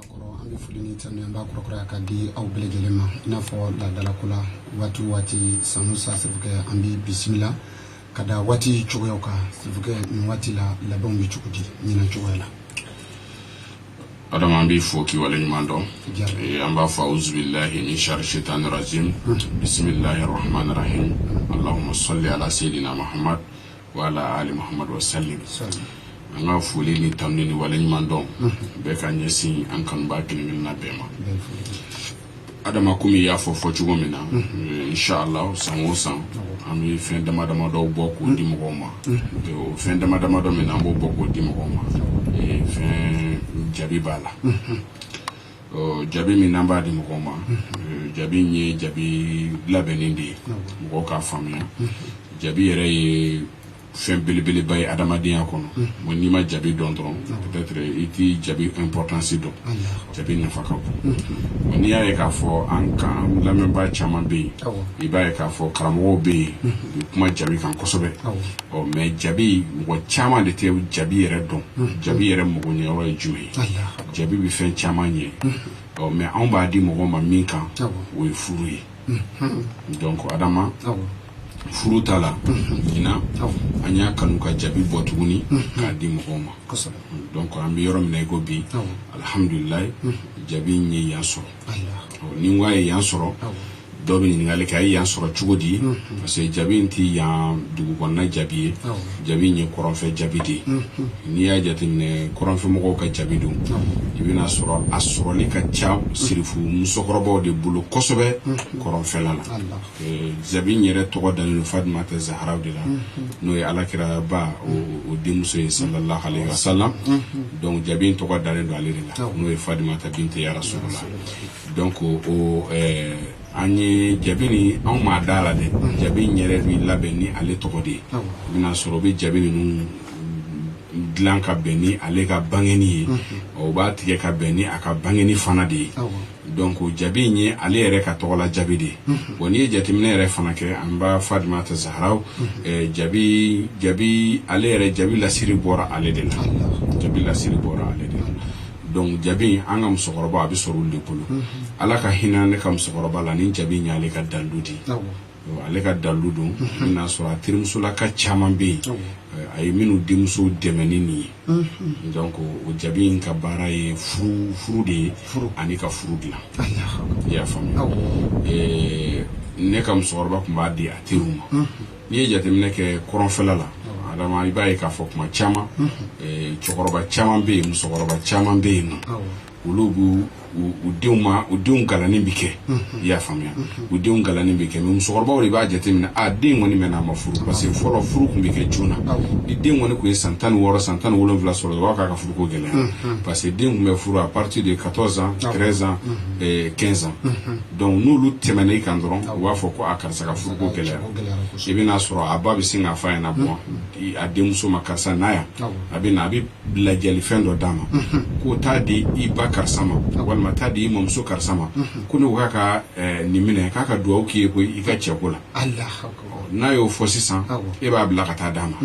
kɔrɔ an bɛ foli ni tanu an b'a kɔrɔkɔrɔya ka di aw bɛɛ lajɛlen ma i n'a fɔ laadalako la waati o waati san o san sirifukɛ an b'i bisimila ka da waati cogoyaw kan sirifukɛ nin waati la labɛnw bɛ cogo di ɲinan cogoya la adama an b'i fo k'i wale ɲuman dɔn eh, an b'a fɔ auzubillahi min shari shetani rajim bisimillahi rahmani rahim allahuma salli ala seydina muhamad wa ala ali muhammad wa sallim an ka foli ni tanu ni wale ɲuman dɔn bɛɛ ka ɲɛsin an kanubaa kelen-kelenna bɛɛ ma adama komi y'a fɔ fɔ cogo min na eh, inshallah san o san an bɛ fɛn dama dama dɔw bɔ k'o di mɔgɔw ma Eh, o fɛn dama dama dɔ min na an b'o bɔ k'o di mɔgɔw ma Eh, fɛn jabi b'a la Ɔ jabi min n'an b'a di mɔgɔw ma ɛ jabi in ye jabi labɛnnen de ye mɔgɔw k'a faamuya jabi yɛrɛ ye fɛn belebeleba ye adamadenya kɔnɔ bon n'i ma jabi dɔn dɔrɔn peut-être i tɛ jabi importance dɔn jabi nafa ka bon bon n'i y'a ye k'a fɔ an kan an lamɛnbaa caman bɛ yen i b'a ye k'a fɔ karamɔgɔw bɛ yen u bɛ kuma jabi kan kosɛbɛ ɔ mais jabi mɔgɔ caman de tɛ jabi yɛrɛ dɔn jabi yɛrɛ magoɲɛyɔrɔ ye jumɛn ye jabi bɛ fɛn caman ɲɛ mais an b'a di mɔgɔ ma min kan o ye furu ye donc adama furu ta la ɲinan an y'a kanu ka jabi bɔ tuguni k'a di mɔgɔw ma donc an bɛ yɔrɔ min na i ko bi alihamdulila jabi ye yan sɔrɔ ni a ye yan sɔrɔ dɔ bɛ ɲininkali kɛ a ye yan sɔrɔ cogo di parce que jabi in tɛ yan dugu kɔnɔna jabi ye jabi in ye kɔrɔnfɛ jabi de ye n'i y'a jateminɛ kɔrɔnfɛmɔgɔw ka jabi don i bɛn'a sɔrɔ a sɔrɔli ka ca sirifu musokɔrɔbaw de bolo kosɛbɛ kɔrɔnfɛla la Jabi yɛrɛ tɔgɔ dalen Fatimata Zahara de la n'o ye ala kiraba o denmuso ye salallahu aleyhi wa sallam donc jabi in tɔgɔ dalen don ale de la n'o ye Fatimata bintu rasulullah donc ko an ye jabi nin anw maa da la dɛ jabi in yɛrɛ bɛ labɛn ni ale tɔgɔ de ye i bɛn'a sɔrɔ u bɛ jabi ninnu dilan ka bɛn ni ale ka bangi ye u b'a tigɛ ka bɛn ni a ka bangi fana de ye Donc jabi in ye ale yɛrɛ ka tɔgɔ la jabi de ye bon n'i ye jateminɛ yɛrɛ fana kɛ an ba Fatimata Zahara jabi jabi ale yɛrɛ jabi lasiri bɔra ale de la jabi lasiri bɔra ale de la jabi an ka musokɔrɔbaw a bɛ sɔrɔ olu de bolo ala ka hinɛ ne ka musokɔrɔba la nin jabi in ye ale ka dalu de ale ka dalu don n y'a sɔrɔ a terimusolaka caman bɛ yen a ye minnu denmuso dɛmɛ ni nin ye donc o jabi in ka baara ye furu de ye ani ka furu dilan i y'a faamuya ne ka musokɔrɔba tun b'a di a teri ma n'i ye jateminɛ kɛ kɔrɔnfɛla la adama i b'a ye k'a fɔ kuma caman cɛkɔrɔba caman bɛ yen musokɔrɔba caman bɛ yen nɔ olu b'u u denw ma u denw kalanni bɛ kɛ i y'a faamuya u denw kalanni bɛ kɛ mɛ musokɔrɔbaw de b'a jateminɛ a den kɔni mɛnna a ma furu parce que fɔlɔ furu tun bɛ kɛ joona ni den kɔni tun ye san tan ni wɔɔrɔ san tan ni wolonwula sɔrɔ o b'a k'a ka furuko gɛlɛya parce que den tun bɛ furu a partir de 14 ans 13 ans 15 ans donc n'olu tɛmɛna i kan dɔrɔn u b'a fɔ ko a karisa ka furuko gɛlɛya i bɛna sɔrɔ a ba bɛ sin k'a fɔ a ɲɛna bɔn a denmuso ma karisa na yan a bɛ na a bɛ ladiyalifɛn dɔ d'a ma ko taa di i ba karisa ma walima taa di i mamuso karisa ma ko ne k'a ka eh, nin minɛ k'a ka dugawu k'i ye ko i ka cɛko la n'a y'o fɔ sisan e b'a bila ka taa d'a ma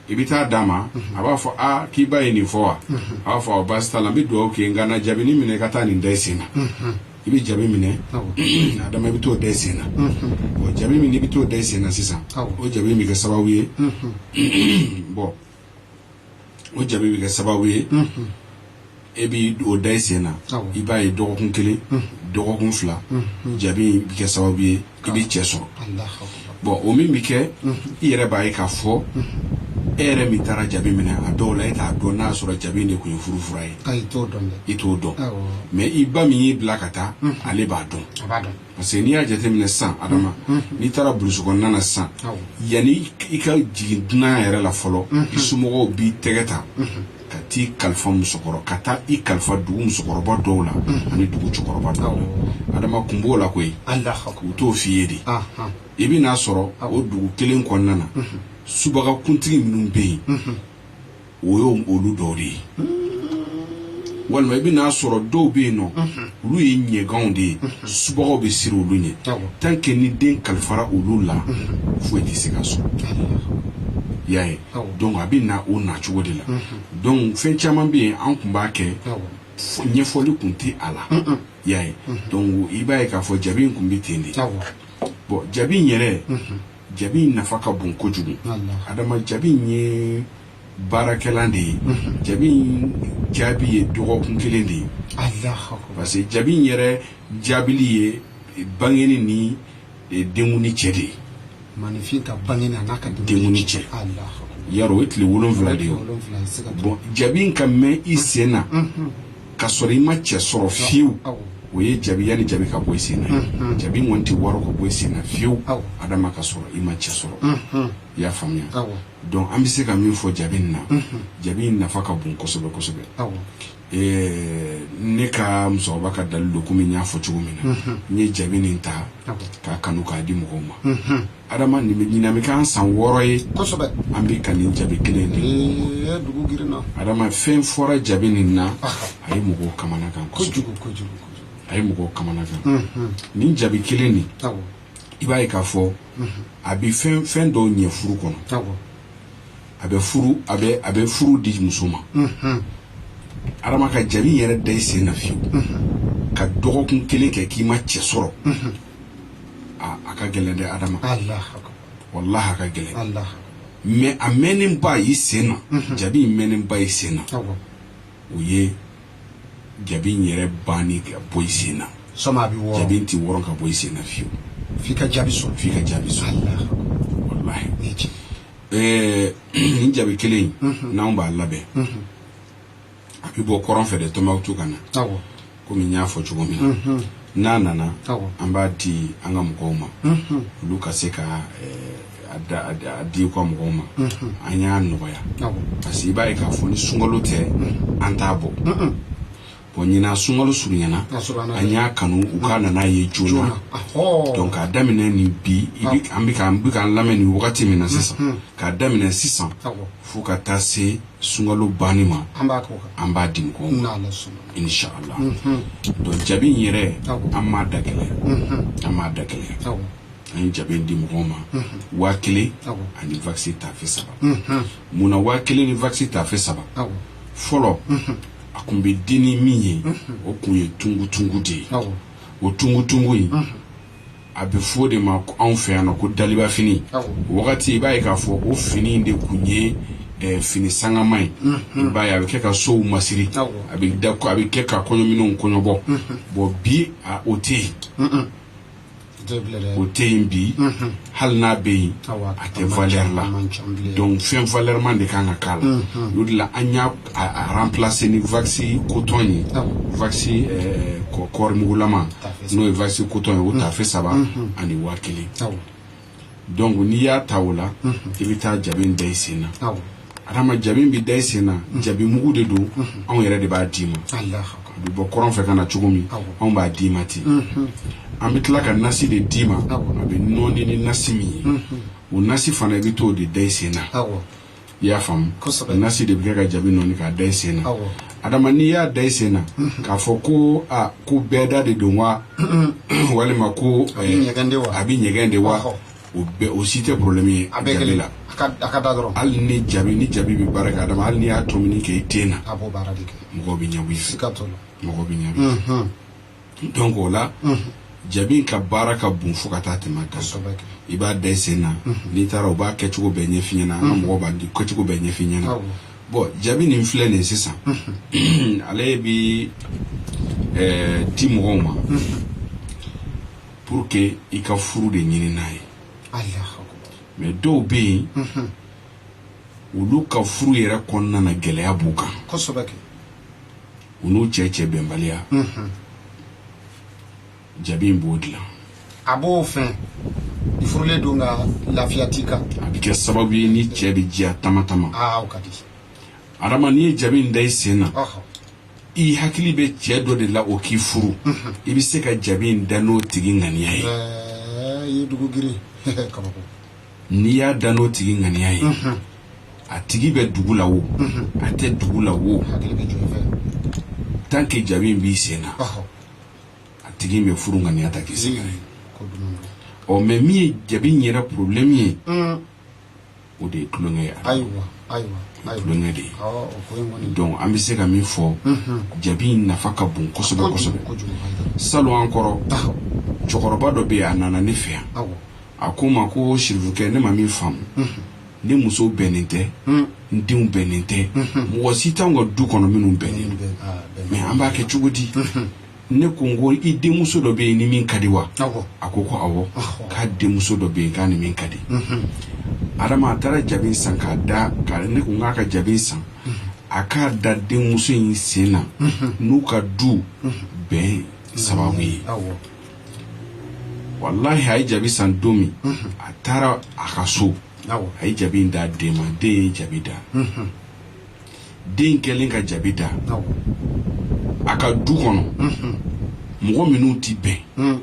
i bɛ taa d'a ma a b'a fɔ a k'i ba ye nin fɔ wa a b'a fɔ aw baasi t'a la n bɛ dugawu k'i ye nka na jabi nin minɛ ka taa nin da i sen na i bɛ jabi minɛ adama i bɛ t'o da i sen na bɔn jabi min i bɛ t'o da i sen na sisan o jabi in bɛ kɛ sababu ye bɔn o jabi bɛ kɛ sababu ye e bɛ o da i sen na i b'a ye dɔgɔkun kelen dɔgɔkun fila jabi bɛ kɛ sababu ye i bɛ cɛ sɔrɔ bɔn o min bɛ kɛ i yɛrɛ b'a ye k'a fɔ e yɛrɛ min taara jabi minɛ a dɔw la e t'a dɔn n'a sɔrɔ jabi in de tun ye furu fura ye i t'o dɔn mais i ba min y'i bila ka taa ale b'a dɔn parce que n'i y'a jateminɛ sisan adama n'i taara burusi kɔnɔna na sisan yanni i ka jigin dunan yɛrɛ la fɔlɔ i somɔgɔw b'i tɛgɛ ta ka t'i kalifa musokɔrɔ ka taa i kalifa dugu musokɔrɔba dɔw la ani dugu cɛkɔrɔba dɔw la adama kun b'o la koyi u t'o f'i ye de i bɛ n'a sɔrɔ o dugu kelen kɔnɔna na subaga kuntigi minnu bɛ yen o y'o olu dɔw de ye walima i bɛ n'a sɔrɔ dɔw bɛ yen nɔ olu ye ɲɛganw de ye subagaw bɛ siran olu ɲɛ tant que ni den kalifara olu la foyi tɛ se k'a sɔrɔ y'a ye donc a bɛ na o na cogo de la donc fɛn caman bɛ yen an tun b'a kɛ ɲɛfɔli tun tɛ a la y'a ye donc i b'a ye k'a fɔ jabi in tun bɛ ten de bɔn jabi yɛrɛ Jabi in nafa ka bon kojugu adama jabi in ye baarakɛlan de ye jabi in jaabi ye dɔgɔkun kelen de ye parce que jabi in yɛrɛ jaabili ye bangeni ni denkundi cɛ de ye maaninfin ka bange n'a ka denkundi cɛ ya o ye tile wolon wolonwula de ye bɔn jabi in ka mɛn i sen na ka sɔrɔ i ma cɛ sɔrɔ fiyewu o ye jabi yanni jabi ka bɔ i sen na jabi in kɔni tɛ wɔrɔ ka bɔ i sen na fiyewu adama ka sɔrɔ i ma cɛ sɔrɔ i y'a faamuya donc an bɛ se ka min fɔ jabi nin na jabi in nafa ka bon kosɛbɛ kosɛbɛ ne ka musokɔrɔba ka dalilu komi n y'a fɔ cogo min na n ye jabi nin ta k'a kanu k'a di mɔgɔw ma adama ɲinan bɛ k'an san wɔɔrɔ ye an bɛ ka nin jabi kelen de adama fɛn fɔra jabi nin na a ye mɔgɔw kamanagan a ye mɔgɔw kamanagan nin jabi kelen nin i b'a ye k'a fɔ a bɛ fɛn fɛn dɔw ɲɛ furu kɔnɔ a bɛ furu a bɛ a bɛ furu di muso ma adama ka jabi yɛrɛ da i sen na fiyewu ka dɔgɔkun kelen kɛ k'i ma cɛ sɔrɔ a ka gɛlɛn dɛ adama walahi a ka gɛlɛn mais a mɛnnenba i sen na mhm. jabi in mɛnnenba i sen na o ye jabi in yɛrɛ banni ka bɔ i sen na jabi in tɛ wɔrɔn ka bɔ i sen na fiyewu f'i ka jaabi sɔrɔ f'i ka jaabi sɔrɔ walahi ɛɛ nin jabi kelen in mhm. n'anw b'a labɛn mhm. a bɛ bɔ kɔrɔn fɛ de Tombouctou ka na kɔmi n y'a fɔ cogo min na n'a nana an b'a di an ka mɔgɔw ma olu ka se k'a di u ka mɔgɔw ma an y'a nɔgɔya parce que i b'a ye k'a fɔ ni sunkalo tɛ an t'a bɔ bon ɲinan sunkalo surunyana an y'a kanu u ka na n'a ye joona k'a daminɛ nin bi aw bɛ k'an lamɛn nin wagati min na sisan k'a daminɛ sisan fo ka taa se sunkalo banni ma an b'a k'o kan an b'a di mɔgɔw ma n'ala sɔnna inshallah donc jabi in yɛrɛ Awɔ. an m'a da gɛlɛya an m'a da gɛlɛya awɔ an ye jabi in di mɔgɔw ma waa kelen Awɔ. ani wakisi tafe saba mun na waa kelen ni wakisi tafe saba awɔ fɔlɔ a kun bɛ di ni min ye o kun ye tungutungu de ye awɔ o tungutungu in a bɛ fɔ de ma anw fɛ yan nɔ ko daliba fini wagati i b'a ye k'a fɔ o fini de kun ye fini sangama ye i b'a ye a bɛ kɛ ka sow masiri a a bɛ kɛ ka kɔɲɔminɛnw kɔɲɔbɔ bon bi o tɛ yen o tɛ yen bi hali n'a bɛ yen a tɛ valeur la donc fɛn valeurman de ka kan ka k'a la o de la an y'a remplacer ni wakisi coton ye wakisi eh, kɔɔrimugulama n'o ye wakisi coton ye o tafe saba ani waa kelen donc n'i y'a ta o la i bɛ taa jabi in da i sen na Adama jabi bɛ da i sen na jabi mugu de don anw yɛrɛ de b'a d'i ma a bɛ bɔ kɔrɔn fɛ ka na cogo min anw b'a d'i ma ten an bɛ tila ka nasi de d'i ma a bɛ nɔɔni ni nasi min ye o nasi fana i bɛ to o de da i sen na i y'a faamu nasi de bɛ kɛ ka jabi nɔɔni k'a da i sen na adama n'i y'a da i sen na k'a fɔ ko aa ko bɛɛ da de don wa walima ko a bɛ ɲɛgɛn de wa o bɛɛ o si tɛ problème ye a bɛɛ kelen la a ka a ka da dɔrɔn hali ni jabi ni jabi bɛ baara kɛ adama hali n'i y'a tɔmini kɛ i den na a b'o baara de kɛ mɔgɔ bɛ ɲɛbɔ i fɛ sika t'o la mɔgɔ bɛ ɲɛbɔ i fɛ donc o la jabi ka baara ka bon fo ka taa tɛmɛ a kan kosɛbɛ kɛ i b'a da i sen na n'i taara u b'a kɛcogo bɛɛ ɲɛf'i ɲɛna an ka mɔgɔw b'a di kɛcogo bɛɛ ɲɛf'i ɲɛna Awɔ. bɔn jabi nin filɛ nin ye sisan ale bɛ di mɔgɔw ma pour que i ka furu de ɲini n'a ye mais dɔw bɛ yen mhm. olu ka furu yɛrɛ kɔnɔna na gɛlɛya b'u kan u n'u cɛ cɛ bɛnbaliya mhm. jabi in b'o dilan a b'o fɛn i furulen don nka lafiya t'i kan a bɛ kɛ sababu ye n'i cɛ bɛ diya tamatama adama n'i ye jabi in da i sen na i hakili bɛ cɛ dɔ de la o k'i furu i bɛ se ka jabi in da n'o tigi ŋaniya ye n'i y'a da n'o tigi ŋaniya ye a tigi bɛ dugu la o a tɛ dugu la o tant que jabi in b'i sen na a tigi bɛ furu ŋaniya ta k'i sɛgɛrɛ mais min ye jabi yɛrɛ problème ye o de ye tulonkɛ ye ayiwa ayiwa tulonkɛ de ye donc an bɛ se ka min fɔ jabi in nafa ka bon kosɛbɛ kosɛbɛ salon an kɔrɔ cɛkɔrɔba dɔ bɛ yen a nana ne fɛ yan a ko n ma ko sirifukɛ ne ma min faamu ne muso bɛnnen tɛ n denw bɛnnen tɛ mɔgɔ si t'anw ka du kɔnɔ minnu bɛnnen mais an b'a kɛ cogo di ne ko n ko i denmuso dɔ bɛ yen ni min ka di wa a ko ko awɔ k'a denmuso dɔ bɛ yen k'a ni min ka di mhm. adama a taara jabi san k'a da ne ko n k'a ka jabi san mhm. a k'a da denmuso in sen na mhm. n'u ka du bɛn sababu ye walahi a ye jabi san don min a taara a ka so a ye jabi in d'a den ma den ye jabi da den kɛlen ka jabi da a ka du kɔnɔ mɔgɔ minnu tɛ bɛn hmm.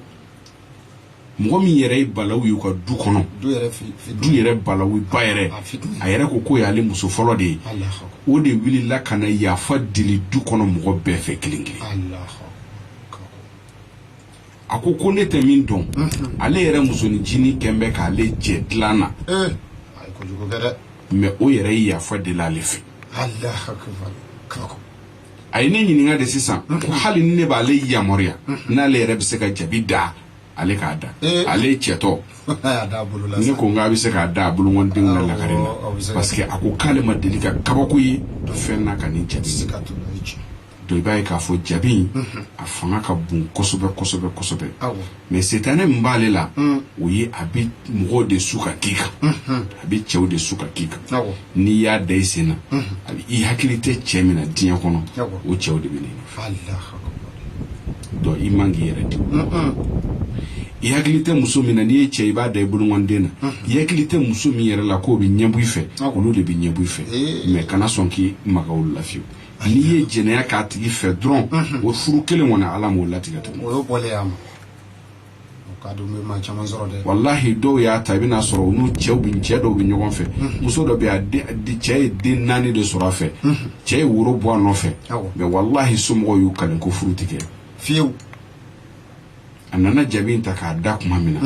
mɔgɔ min yɛrɛ ye balawu y'u ka du kɔnɔ du yɛrɛ balawu ba yɛrɛ a yɛrɛ ko k'o y'ale muso fɔlɔ de ye o de wulila ka na yafa deli du kɔnɔ mɔgɔ bɛɛ fɛ kelen kelen a ko ko ne tɛ min dɔn ale yɛrɛ musoninncinin kɛn bɛ k'ale jɛ dilan na mais o yɛrɛ ye yafa deli ale fɛ a ye ne ɲininka de sisan ko hali ni ne b'ale yamaruya n'ale yɛrɛ bɛ se ka jabi da ale k'a da ale cɛtɔ ne ko n k'a bɛ se k'a da a bolokɔndenw na lagare la parce que a ko k'ale ma deli ka kabako ye fɛn na ka nin cɛ tɛ se ka donc i b'a ye k'a fɔ jabi in a fanga ka bon kosɛbɛ kosɛbɛ kosɛbɛ mais setanɛ min b'ale la o ye a bɛ mɔgɔw de su ka k'i kan a bɛ cɛw de su ka k'i kan n'i y'a da i sen na a bɛ i hakili tɛ cɛ min na diɲɛ kɔnɔ o cɛw de bɛ n'i nɔfɛ donc i man k'i yɛrɛ di i hakili tɛ muso min na n'i ye cɛ i b'a da i bolokɔnden na i hakili tɛ muso min yɛrɛ la k'o bɛ ɲɛbɔ i fɛ olu de bɛ ɲɛbɔ i fɛ mais kana sɔn k'i maga olu la fiyewu n'i ye jɛnɛya k'a tigi fɛ dɔrɔn o furu kelen kɔni ala m'o latigɛ tuguni o y'o bɔlen y'a ma o ka don bɛ maa caman sɔrɔ dɛ walahi dɔw y'a ta i bɛna sɔrɔ u n'u cɛw bɛ cɛ dɔw bɛ ɲɔgɔn fɛ muso dɔ bɛ yen, a den- a den- cɛ ye den naani de sɔrɔ a fɛ cɛ ye woro bɔ a nɔfɛ Awɔ. mais walahi somɔgɔw y'u kalen ko furu tɛ kɛ fiyew a nana jabi in ta k'a da tuma min na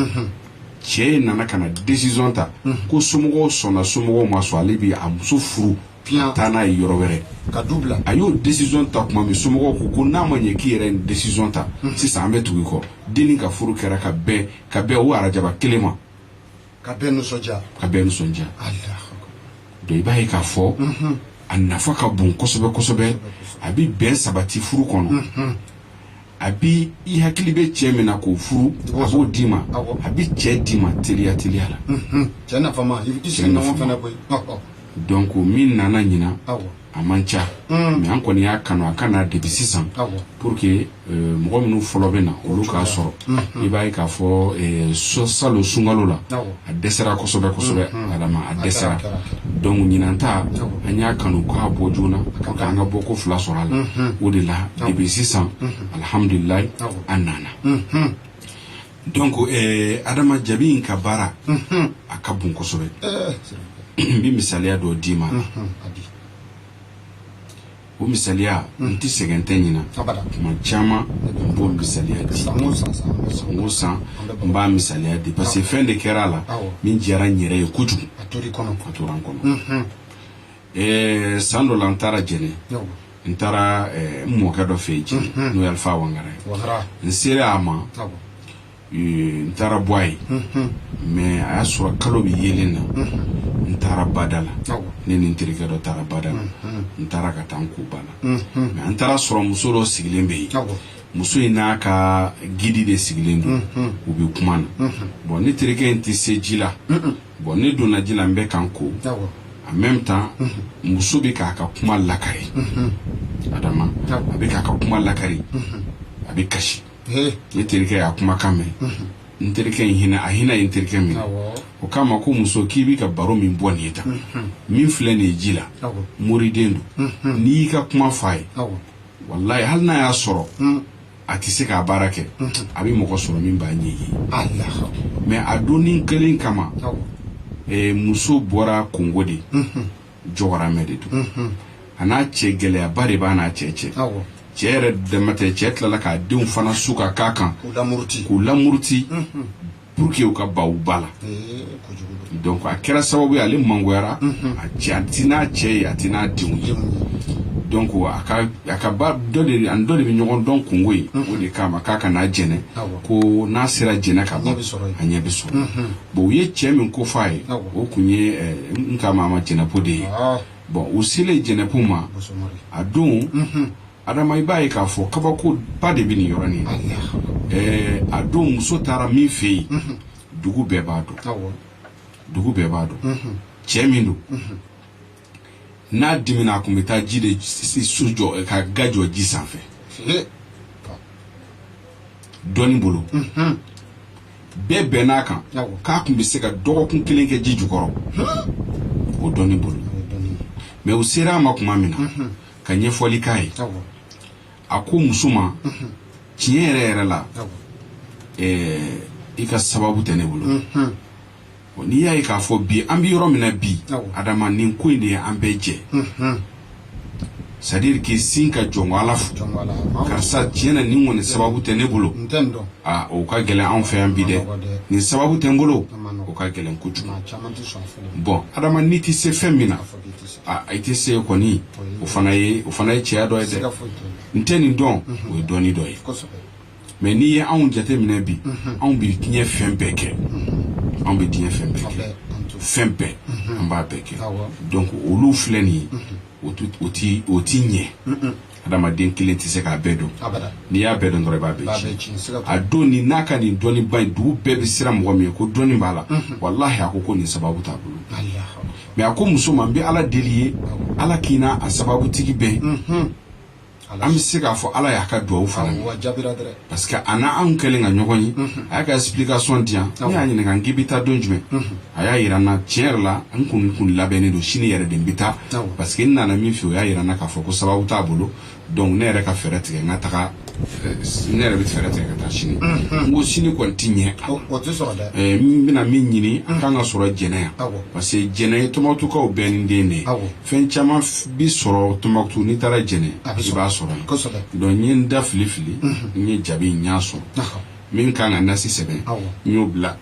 cɛ in nana ka na décision ta ko somɔgɔw sɔnna somɔgɔw ma sɔn ale bi a muso furu ka taa n'a ye yɔrɔ wɛrɛ ka du bila a y'o décision ta tuma min somɔgɔw ko ko n'a ma ɲɛ k'i yɛrɛ ye décision ta sisan an bɛ tugu i kɔ dennin ka furu kɛra ka bɛn ka bɛn o arajaba kelen ma ka bɛɛ nisɔndiya donc i b'a ye k'a fɔ a nafa ka bon kosɛbɛ kosɛbɛ a bɛ bɛn sabati furu kɔnɔ a bɛ i hakili bɛ cɛ min na k'o furu a b'o d'i ma a bɛ cɛ d'i ma teliya teliya la cɛ nafama donc min nana ɲinan a man ca mm. mais an kɔni y'a kanu a ka na depuis sisan pour que euh, mɔgɔ minnu fɔlɔ bɛ na olu k'a sɔrɔ mm-hmm. i b'a ye k'a fɔ euh, salon sunkalo la a dɛsɛra kosɛbɛ kosɛbɛ mm-hmm. adama a dɛsɛra donc ɲinan ta an y'a kanu k'a bɔ joona pour que an ka bɔ ko fila sɔrɔ a la mm-hmm. o de la depuis sisan alhamdulilayi an nana Donc adama jabi in ka baara a ka bon kosɛbɛ n bɛ misaliya dɔ d'i ma o misaliya n tɛ sɛgɛn tɛ ɲina tuma caman n b'o misaliya di san o san n b'a misaliya di parce que fɛn de kɛra a la min diyara n yɛrɛ ye kojugu a tora n kɔnɔ ɛɛ san dɔ la n taara jɛnɛ n taara n mɔkɛ dɔ fɛ yen jɛnɛ n'o ye alifa wangara ye n sera a ma n taara bɔ a ye mais a y'a sɔrɔ kalo bɛ yelen na n taara bada la ne ni n terikɛ dɔ taara bada la n taara ka taa n ko ba la mais an taara sɔrɔ muso dɔ sigilen bɛ yen muso in n'a ka guide de sigilen don u bɛ kuma na bon ne terikɛ in tɛ se ji la bon ne donna ji la n bɛ ka n ko en même temps muso bɛ k'a ka kuma lakari adama a bɛ k'a ka kuma lakari a bɛ kasi ne terikɛ y'a kumakan mɛn n terikɛ in hinɛ a hinɛ ye n terikɛ minɛ o k'a ma ko muso k'i b'i ka baro min bɔ nin ye tan min filɛ nin ye ji la moriden don n'i y'i ka kuma fɔ a ye walayi hali n'a y'a sɔrɔ a tɛ se k'a baara kɛ a bɛ mɔgɔ sɔrɔ min b'a ɲɛ ye mais a donnin kelen kama eh, muso bɔra kongo de jɔgɔramɛ de don a n'a cɛ gɛlɛyaba de b'a n'a cɛ cɛ cɛ yɛrɛ dama tɛ cɛ tilala k'a denw fana su ka k'a kan k'u lamuruti pour que u ka ban u ba la donc a kɛra sababu ye ale mangoyara a cɛ a ti n'a cɛ ye a ti n'a denw ye donc a ka a ka ba dɔ de ani dɔ de bɛ ɲɔgɔn dɔn kongo yen o de k'a ma k'a ka na jɛnɛ ko n'a sera jɛnɛ ka ban a ɲɛ bɛ sɔrɔ bon u ye cɛ min ko fɔ a ye o kun ye n ka maama jɛnɛpo de ye bon u selen jɛnɛpo ma a don adama i b'a ye k'a fɔ kabako ba de bɛ nin yɔrɔ nin ɛɛ a don muso taara min fɛ yen mhm. dugu bɛɛ b'a dɔn dugu bɛɛ b'a dɔn mhm. cɛ min don mhm. n'a dimina a kun bɛ taa ji de so jɔ ka ga jɔ ji sanfɛ dɔnni bolo bɛɛ bɛnn'a kan k'a kun bɛ se ka dɔgɔkun kelen kɛ ji jukɔrɔ o dɔnni bolo mais u sera a ma tuma min na ka ɲɛfɔli k'a ye a ko muso ma tiɲɛ yɛrɛ yɛrɛ la i ka sababu tɛ ne bolo n'i y'a ye k'a fɔ bi an bɛ yɔrɔ min na bi adama nin ko in de ye an bɛɛ jɛ c'est à dire k'i sin ka jɔn ala fɔ karisa tiɲɛ na nin kɔni sababu tɛ ne bolo o ka gɛlɛn anw fɛ yan bi dɛ nin sababu tɛ n bolo o ka gɛlɛn kojugu bon adama n'i tɛ se fɛn min na i tɛ se kɔni o fana ye o fana ye cɛya dɔ ye dɛ n tɛ nin dɔn o ye dɔnni dɔ ye mais n'i ye anw jateminɛ bi anw bɛ diɲɛ fɛn bɛɛ kɛ anw bɛ diɲɛ fɛn bɛɛ kɛ fɛn bɛɛ an b'a bɛɛ kɛ donc olu filɛ nin ye o tɛ ɲɛ adamaden kelen tɛ se k'a bɛɛ dɔn n'i y'a bɛɛ dɔn dɔrɔn i b'a bɛɛ tiɲɛ a don nin n'a ka nin dɔnniba in dugu bɛɛ bɛ siran mɔgɔ min ye ko dɔnni b'a la mhm. walahi a ko ko nin sababu t'a bolo mais a ko muso ma n bɛ ala deli i ye ala k'i n'a a sababutigi bɛn mhm. an bɛ se k'a fɔ ala y'a ka dugawu fana minɛ parce que a n'anw kɛlen ka ɲɔgɔn ye a y'a ka explication di yan ne y'a ɲininka k'i bɛ taa don jumɛn a y'a yira n na tiɲɛ yɛrɛ la n kun kun labɛnnen don sini yɛrɛ de n bɛ taa parce que n nana min fɛ o y'a yira n na k'a fɔ ko sababu t'a bolo donc ne yɛrɛ ka fɛɛrɛ tigɛ n ka taga ne yɛrɛ bɛ fɛɛrɛ tigɛ ka taa sini n ko sini kɔni ti ɲɛ a la n bɛna min ɲini a kan ka sɔrɔ jɛnɛ yan parce que jɛnɛ ye Tombouctou bɛɛnin den de ye fɛn caman bi sɔrɔ Tombouctou n'i taara Djéné i b'a sɔrɔ yen donc n ye n da fili fili n ye jabi n y'a sɔrɔ min kan ka nasi sɛbɛn n y'o bila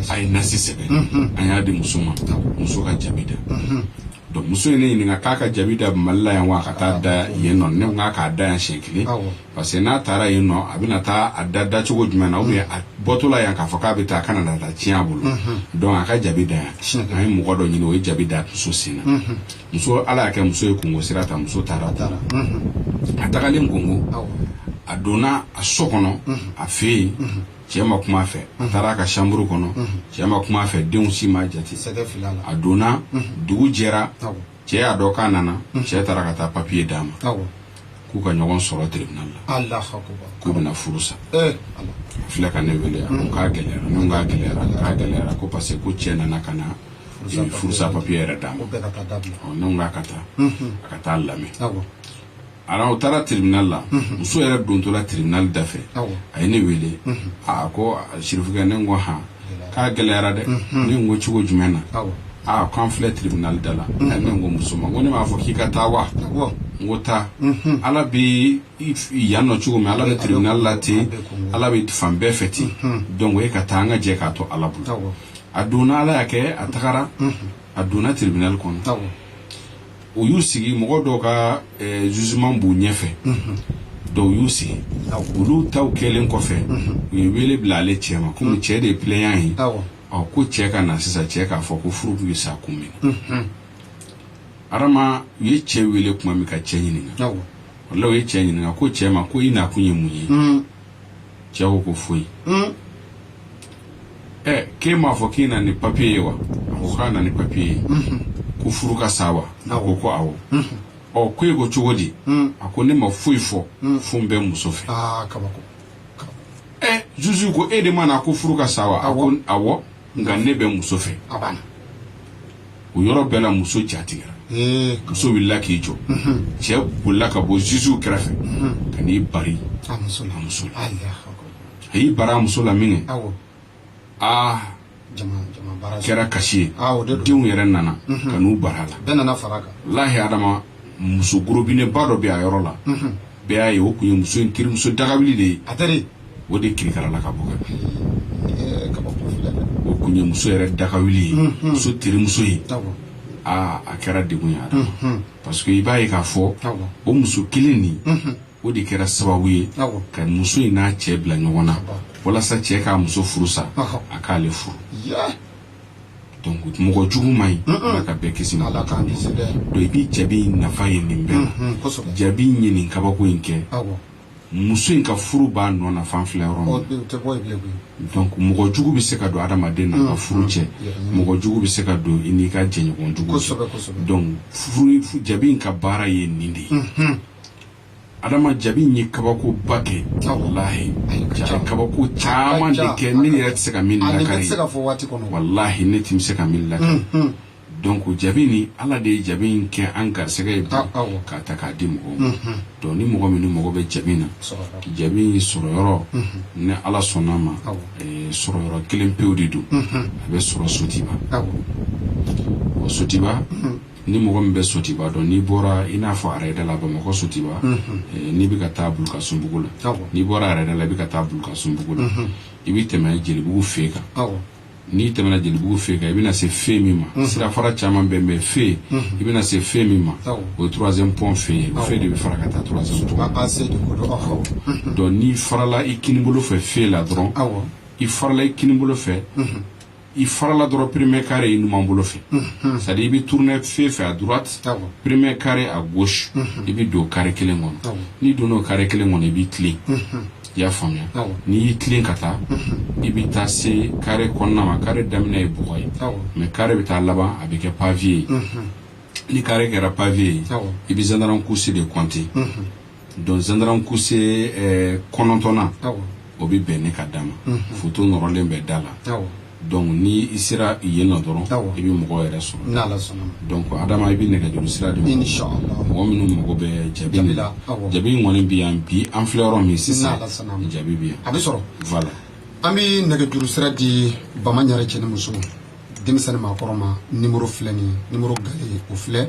a ye nasi sɛbɛn an y'a di muso ma muso ka jabi da donc muso ye ne ɲininka k'a ka jabi da Mali la yan wa a ka taa da yen nɔ ne ko k'a k'a da yan siɲɛ kelen parce que n'a taara yen nɔ a bɛna taa a da da cogo jumɛn na ou bien a bɔtɔla yan k'a fɔ k'a bɛ taa a kana na taa tiɲɛ a bolo donc a ka jabi da yan an ye mɔgɔ dɔ ɲini o ye jabi da muso sen na muso ala y'a kɛ muso ye Congo sira ta muso taara taara a tagalen Congo a donna a so kɔnɔ a fɛ yen cɛ ma kuma a fɛ a taara a ka chambre kɔnɔ cɛ ma kuma a fɛ denw si ma jate a donna dugu jɛra cɛ y'a dɔn k'a nana cɛ taara ka taa papier d'a ma k'u ka ɲɔgɔn sɔrɔ tribunal la k'u bɛna furu sa a filɛ ka ne wele yan k'a gɛlɛyara ne k'a gɛlɛyara k'a gɛlɛyara ko parce que ko cɛ nana ka na furusa papier yɛrɛ d'a ma ne k'a ka taa a ka taa lamɛn alors u taara tribunal la muso yɛrɛ dontɔla tribunal da fɛ a ye ne wele aa ko sirifukɛ ne ko hɔn k'a gɛlɛyara dɛ ne ko cogo jumɛn na aaa ko an filɛ tribunal da la ne ko muso ma ko ne m'a fɔ k'i ka taa wa n ko taa ala bɛ yan nɔ cogo min ala bɛ tribunal la ten ala bɛ fan bɛɛ fɛ ten donc e ka taa an ka jɛ k'a to ala bolo a donna ala y'a kɛ a tagara a donna tribunal kɔnɔ u y'u sigi mɔgɔ dɔ ka jugement b'u ɲɛfɛ donc u y'u sigi olu taw kɛlen kɔfɛ u ye wele bila ale cɛ ma kɔmi cɛ de ye plaignant ye ko cɛ ka na sisan cɛ k'a fɔ ko furu tun bɛ sa kun min na adama u ye cɛ wele tuma min ka cɛ ɲininka voilà u ye cɛ ɲininka ko cɛ ma ko i nakun ye mun ye cɛ ko ko foyi ɛ k'e m'a fɔ k'i na ni papier ye wa a ko k'a na ni papier ye ko furu ka sa wa a ko ko awɔ ɔ ko e ko cogo di a ko ne ma foyi fɔ fo n bɛ n muso fɛ aa kabako ɛ juge ko e de ma na ko furu ka sa wa a ko awɔ nka ne bɛ muso fɛ a banna o yɔrɔ bɛɛ la muso ja tigɛra muso wulila k'i jɔ cɛ bolila ka bɔ zuzuw kɛrɛfɛ ka n'i bari a muso la a y'i bari a muso la min kɛ aa kɛra kasi ye denw yɛrɛ nana ka n'u bari a la lahi adama muso gorobinɛba dɔ bɛ a yɔrɔ la bɛɛ y'a ye o tun ye muso in terimuso dagawuli de ye o de kirikarala ka bɔ ka bin ɛɛ, kabako filɛ dɛ o kun ye muso yɛrɛ dagawuli ye Mhm. muso terimuso ye awɔ aa a kɛra degun ye a la Mhm. parce que i b'a ye k'a fɔ awɔ o muso kelen nin Mhm. o de kɛra sababu ye awɔ ka muso in n'a cɛ bila ɲɔgɔn na walasa cɛ k'a muso furu sa Ɔhɔ. a k'ale furu ya donc mɔgɔ jugu man ɲi Mm-mm. ala ka bɛɛ kisi ma ala k'an kisi dɛ donc i bɛ jabi in nafa ye nin bɛɛ la Mhm, kosɛbɛ jabi in ye nin kabako in kɛ awɔ muso in ka furu b'a nɔ na f'an filɛ yɔrɔ min donc mɔgɔ jugu bɛ se ka don adamaden n'a ka furu cɛ mɔgɔ jugu bɛ se ka don i n'i ka jɛɲɔgɔn jugu cɛ donc furu jabi in ka baara ye nin de ye mhm. adama jabi in ye kabako ba kɛ walahi ja kabako caman de kɛ ne yɛrɛ tɛ se ka min lakari walahi ne tɛ se ka min lakari mhm. donc jabi ni ala de ye jabi in kɛ an garisɛgɛ ye ah, k'a ta k'a di mɔgɔw ma mhm. donc ni mɔgɔ min mago bɛ jabi in na jabi in sɔrɔ yɔrɔ mhm. ni ala sɔnna ma eh, sɔrɔ yɔrɔ kelen pewu de don mhm. a bɛ sɔrɔ sotiba o sotiba ni mɔgɔ min bɛ sotiba dɔn n'i bɔra i n'a fɔ arɛda la bamakɔ sotiba eh, n'i bɛ ka taa bulukasunbugu la n'i bɔra arɛda la i bɛ ka taa bulukasunbugu la i bɛ tɛmɛ jelibugu fe kan n'i tɛmɛna jelibugu fe kan i bɛna se fe min ma mhm. sirafara caman bɛ bɛn fe mhm. i bɛna se fe min ma o ye troisième pont fe ye o fe de bɛ fara ka taa troisième pont mhm. donc n'i farala i kinibolo fɛ fe la dɔrɔn i farala i kinibolo fɛ i farala dɔrɔn premier carré i numan bolo fɛ c'est à dire i bɛ tourner fe fɛ à droite premier carré à gauche i bɛ don carré kelen kɔnɔ n'i donna o carré kelen kɔnɔ i b'i tilen i y'a faamuya n'i y'i tilen ka taa i bɛ taa se carré kɔnɔna ma carré daminɛ ye bɔgɔ ye mais carré bɛ taa laban a bɛ kɛ pavé ye ni carré kɛra pavé ye i bɛ gendarme couché de compter donc gendarme couché eh, kɔnɔntɔnnan o bɛ bɛn ne ka da ma foto nɔrɔlen bɛ da la donc ni i sera yen nɔ dɔrɔn i bɛ mɔgɔ yɛrɛ sɔrɔ n'ala sɔnna donc adama i bɛ nɛgɛjuru sira di inshallah mɔgɔ minnu mago bɛ jabi de la jabi in kɔni bɛ yan bi an filɛ yɔrɔ min sisan n'ala sɔnna jabi bɛ yan a bɛ sɔrɔ voilà an bɛ nɛgɛjuru sira di bama ɲare cɛ ni muso denmisɛn ni maakɔrɔ ma numéro filɛ nin ye numéro galɛ o filɛ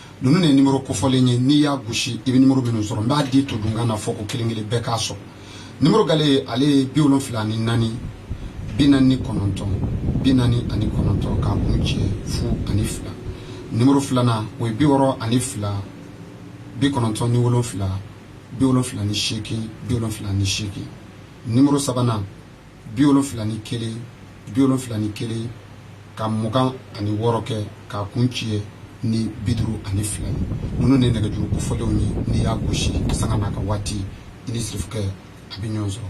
ninnu de ye nimoro kofɔlen ye n'i y'a gosi i bɛ nimoro minnu sɔrɔ n b'a di to dunkan na fɔ ko kelen kelen bɛɛ k'a sɔrɔ nimoro gale ale ye bi wolonfila ni naani bi naani ni kɔnɔntɔn bi naani ani kɔnɔntɔn k'a kuncɛ fu ani fila nimoro filanan o ye bi wɔɔrɔ ani fila bi kɔnɔntɔn ni wolonfila bi wolonfila ni seegin bi wolonfila ni seegin nimoro sabanan bi wolonfila ni kelen bi wolonfila ni kelen ka mugan ani wɔɔrɔ kɛ k'a kuncɛ ni bi duuru ani fila ye ninnu de nɛgɛjuru kofɔlenw ye n'i y'a gosi sanga n'a ka waati i ni sirifukɛ a bɛ ɲɔgɔn sɔrɔ